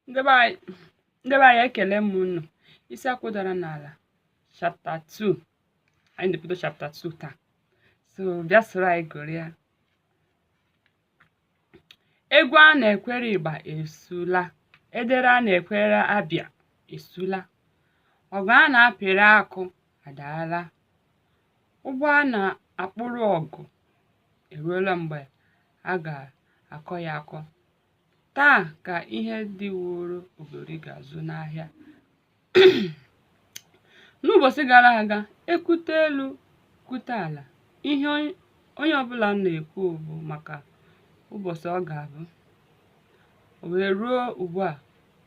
ndị be anyị ndị be anyị ekele m unu isi akwụ dara n'ala chapter 2 anyị na-ebido chapter 2 taa so bịa soro anyị gụrịa egwu a na-ekwere igba esula edere a na-ekwere abịa esula ọgụ a na-apịrị akụ adaala ugbo a na-akpụrụ ọgụ eruola mgbe a ga-akọ ya akọ Taa ka ihe di woro ogori ga-azụ n'ahịa. N'ụbọchị gara aga, ekwute elu kwute ala, ihe onye ọbụla na-ekwu bụ maka ụbọchị ọ ga-abụ. O wee ruo ugbu a,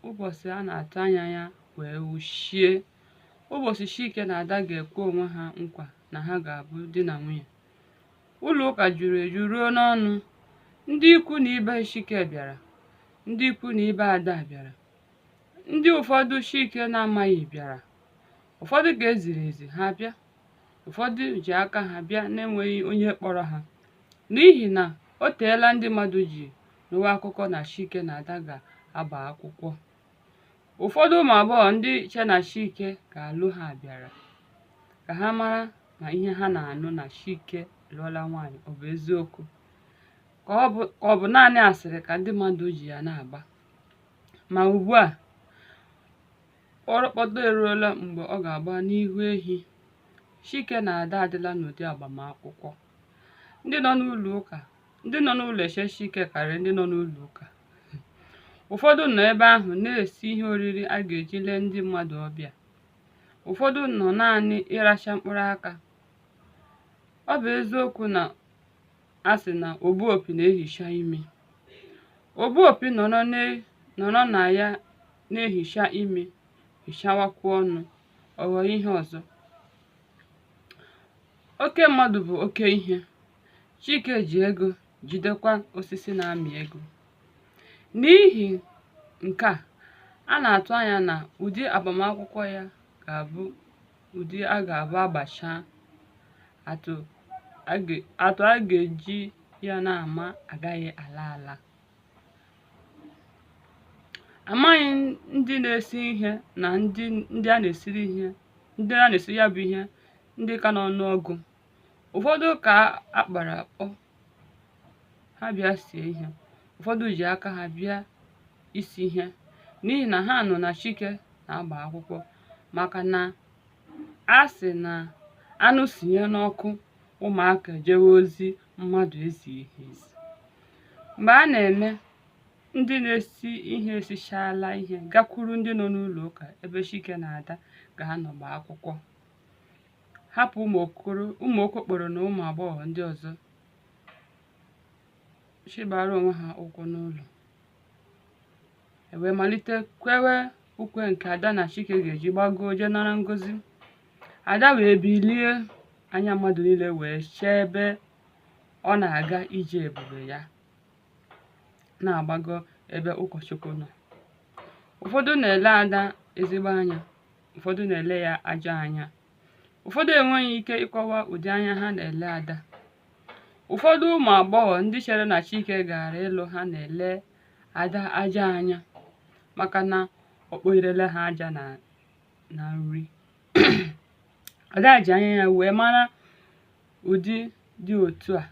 ụbọchị a na-atụ anya ya wee wuchie. Ụbọchị Chike na Ada ga-ekwe onwe ha nkwa na ha ga-abụ di na nwunye. ụlọ ụka juru eju ruo n'ọnụ ndị ikwu na ibe Chike bịara ndị ikwu na ibe Ada bịara ndị ụfọdụ Chike na-amaghị bịara ụfọdụ ka e ziri ezi ha bịa ụfọdụ ji aka ha bịa na-enweghị onye kpọrọ ha n'ihi na o teela ndị mmadụ ji nụwa akụkọ na Chike na Ada ga-agba akwụkwọ Ụfọdụ ụmụ agbọghọ ndị che na Chike ga-alụ ha bịara ka ha mara ma ihe ha na-anụ na Chike lụọla nwaanyị ọ bụ eziokwu ka ọ bụ ka ọ bụ naanị asịrị ka ndị mmadụ ji ya na-agba ma ugbu a kpọrọkpọtọ eruola mgbe ọ ga-agba n'ihu ehi Chike na Ada adịla n'ụdị agbamakwụkwọ ndị nọ n'ụlọ ụka ndị nọ n'ụlọ eche Chike karịrị ndị nọ n'ụlọ ụka ụfọdụ nọ ebe ahụ na-esi ihe oriri a ga-eji lee ndị mmadụ ọbịa ụfọdụ nọ naanị ịracha mkpụrụ aka ọ bụ eziokwu na a sị na ogbu opi na-ehicha imi ogbu opi nọrọ n'e- nọrọ na ya na-ehicha imi hichawakwuo ọnụ ọ ghọọ ihe ọzọ oke mmadụ bụ oke ihe Chike ji ego jidekwa osisi na-amị ego. N'ihi nke a, a na-atụ anya na ụdị agbamakwụkwọ ya ga-abụ ụdị a ga-abụ agbachaa atụ a ga- atụ a ga-eji ya na-ama agaghị ala ala. Amaghị ndị na-esi ihe na ndị ndị a na-esiri ihe ndị a na-esiri ya bụ ihe ndị ka n'ọnụọgụ ụfọdụ ka a kpọrọ akpọ ha bịa sie ihe ụfọdụ ji aka ha bịa isi ihe n'ihi na ha nụ na chike na-agba akwụkwọ maka na a sị na anụ sinye n'ọkụ ụmụaka jewe ozi mmadụ ezighi ha ezi mgbe a na-eme ndị na-esi ihe esichala ihe gakwuru ndị nọ n'ụlọ ụka ebe chike na ada ga-anọ gbaa akwụkwọ hapụ ụmụ okokporo na ụmụ agbọghọ ndị ọzọ chịbara onwe ha ụkwụ n'ụlọ e wee malite kwewe ukwe nke ada na chike ga-eji gbagoo jee nara ngozi ada wee bilie anya mmadụ niile wee chee ebe ọ na-aga ije ebube ya na-agbago ebe ụkọchukwu nọ ụfọdụ na-ele ada ezigbo anya ụfọdụ na-ele ya ajọ anya ụfọdụ enweghị ike ịkọwa ụdị anya ha na-ele ada ụfọdụ ụmụ agbọghọ ndị chere na chike gara ịlụ ha na-ele ada ajọ anya maka na ọ kpọnyerela ha aja na nri ada ji anya ya wee mara ụdị dị otu a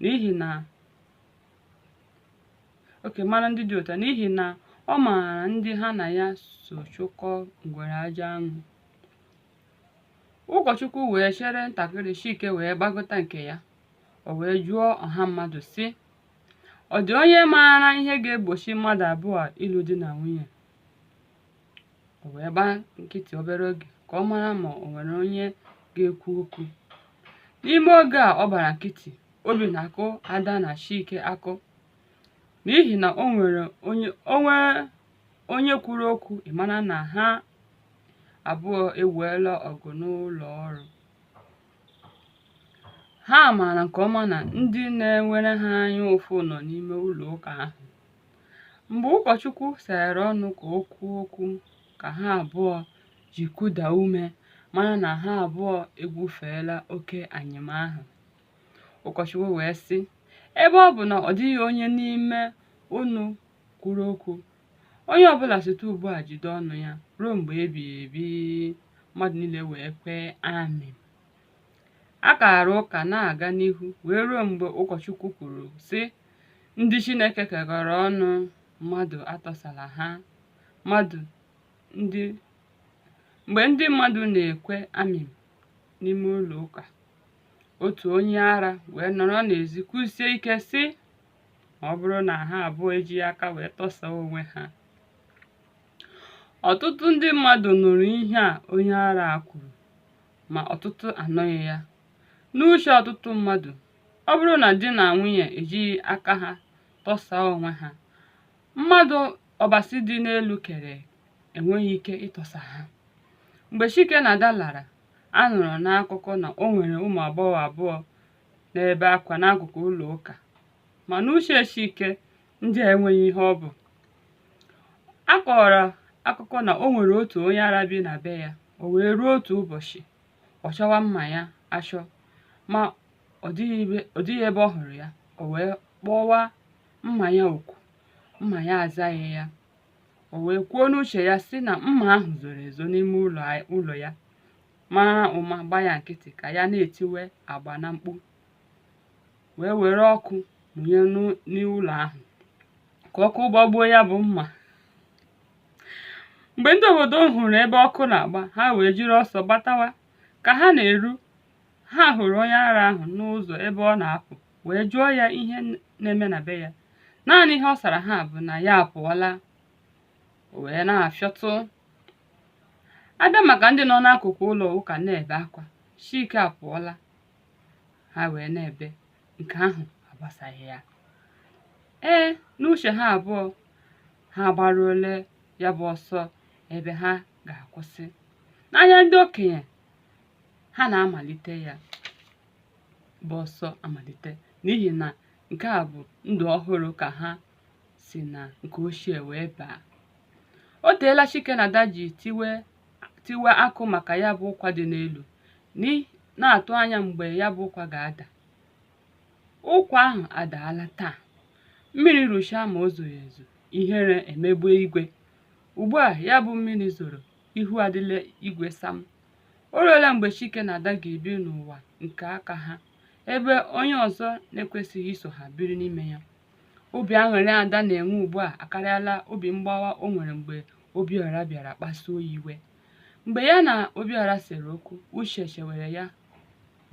n'ihi na oke mara ndị dị otu a n'ihi na ọ maara ndị ha na ya so chụkọ ngwere aja anụ ụkọchukwu wee chere ntakịrị chike wee gbagota nke ya o wee jụọ ọha mmadụ sị ọ dị onye maara ihe ga-egbochi mmadụ abụọ a ịlụ di na nwunye o wee gbaa nkịtị obere oge ka ọ mara ma o nwere onye ga-ekwu okwu n'ime oge a ọ gbara nkịtị obi na-akụ ada na chike akụ n'ihi na o nwere onye o nwee onye kwuru okwu ị mara na ha abụọ eweela ọgụ n'ụlọ ọrụ ha maara nke ọma na ndị na-enwere ha anya ụfụ nọ n'ime ụlọ ụka ahụ Mgbe ụkọchukwu seghere ọnụ ka o kwuo okwu ka ha abụọ ji kụda ume mara na ha abụọ egwufeela oke anyịm ahụ. Ụkọchukwu wee sị, ebe ọ bụ na ọ dịghị onye n'ime unu kwuru okwu, onye ọbụla site ugbu a jide ọnụ ya ruo mgbe ebighị ebi. Mmadụ niile wee kwee amen. A kaara ụka na-aga n'ihu wee ruo mgbe ụkọchukwu kwuru sị Ndị Chineke kekọrọ ọnụ mmadụ atọsala ha. Mmadụ ndị Mgbe ndị mmadụ na-ekwe amen n'ime ụlọ ụka, otu onye ara wee nọrọ n'ezi kwusie ike sị ma ọ bụrụ na ha abụọ ejighị aka wee tọsaa onwe ha. Ọtụtụ ndị mmadụ nụrụ ihe a onye ara a kwuru ma ọtụtụ anụghị ya. N'uche ọtụtụ mmadụ, ọ bụrụ na di na nwunye ejighị aka ha tọsaa onwe ha mmadụ ọbasi dị n'elu kere enweghị ike ịtọsa ha mgbe chike na ada lara a nụrụ n'akụkọ na o nwere ụmụ agbọghọ abụọ na-ebe akwa n'akụkụ ụlọ ụka ma n'uche chike ndị a enweghị ihe ọ bụ a kọrọ akụkọ na o nwere otu onye ara bi na be ya o wee ruo otu ụbọchị ọ chọwa mma ya achọ ma ọ dịghị ebe ọ hụrụ ya o wee kpọwa mma ya oku mma ya azaghị ya o wee kwuo n'uche ya sị na mma ahụ zoro ezo n'ime ụlọ ya mara ụma gba ya nkịtị ka ya na-etiwe agba na mkpu wee were ọkụ mụnye n'ụlọ ahụ ka ọkụ gbagbuo ya bụ mma mgbe ndị obodo hụrụ ebe ọkụ na-agba ha wee jiri ọsọ gbatawa ka ha na-eru ha hụrụ onye ara ahụ n'ụzọ ebe ọ na-apụ wee jụọ ya ihe na-eme na be ya naanị ihe ọ sara ha bụ na ya apụọla o wee na-afịọtụ a bịa maka ndị nọ n'akụkụ ụlọ ụka na-ebe akwa chike apụọla ha wee na-ebe nke ahụ agbasaghị ya ee n'uche ha abụọ ha gbaruole ya bụ ọsọ ebe ha ga-akwụsị n'anya ndị okenye ha na-amalite ya bụ ọsọ amalite n'ihi na nke a bụ ndụ ọhụrụ ka ha si na nke ochie wee baa o teela chike na ada ji tiwe akụ maka ya bụ ụkwa dị n'elu n'i- na-atụ anya mgbe ya bụ ụkwa ga-ada ụkwa ahụ adaala taa mmiri ruchaa ma o zoghị ezo ihere emegbue igwe ugbu a ya bụ mmiri zoro ihu adịla igwe sam o ruola mgbe chike na ada ga-ebi n'ụwa nke aka ha ebe onye ọzọ na-ekwesịghị iso ha biri n'ime ya obi aṅụrị ada na-enwe ugbu a akarịala obi mgbawa o nwere mgbe obiọra bịara kpasuo ya iwe mgbe ya na obiọra sere okwu uche chewere ya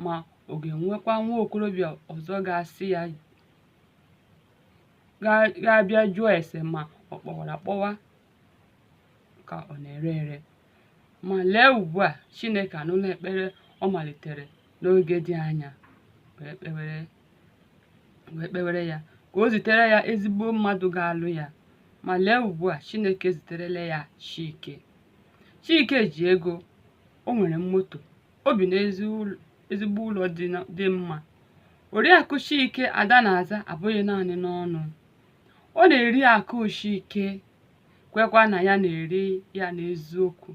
ma ọ ga-enwekwa nwa okorobịa ọzọ ga-asị ya ga-abịa jụọ ese ma ọ kpọwara akpọwa ka ọ na-ere ere ma lee ugbu a Chineke anụla ekpere ọ malitere n'oge dị anya wee kpewere ya ka o zitere ya ezigbo mmadụ ga-alụ ya ma lee ugbu a Chineke ziterela ya Chike Chike ji ego o nwere moto o bi n'ezigbo ụlọ dị mma oriakụ chike ada na-aza abụghị naanị n'ọnụ ọ na-eri akụ chike kwekwa na ya na-eri ya n'eziokwu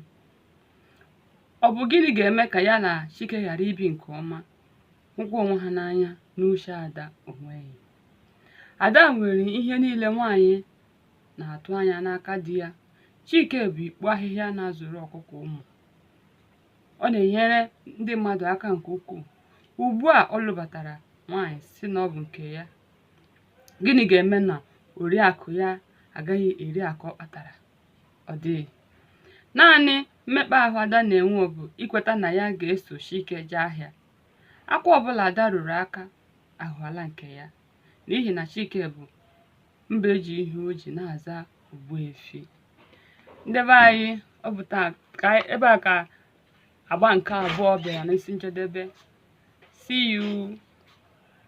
ọ bụ gịnị ga-eme ka ya na chike ghara ibi nke ọma hụkwa onwe ha n'anya n'uche ada o nweghị ada nwere ihe niile nwaanyị na-atụ anya n'aka di ya chike bụ ikpo ahịhịa na-azụrụ ọkụkọ ụmụ ọ na-enyere ndị mmadụ aka nke ukwuu ugbu a ọ lụbatara nwaanyị sị na ọ bụ nke ya gịnị ga-eme na oriakụ ya agaghị eri akụ ọ kpatara ọ dịghị naanị mmekpa ahụ ada na-enwe bụ ikweta na ya ga-eso Chike jee ahịa akwa ọbụla ada rụrụ aka aghọọla nke ya n'ihi na Chike bụ mbe ji ihe o ji na-aza Ogbuefi ndị be anyị ọ bụ taa ebe a ka agba nke abụọ bịara n'isi njedebe see you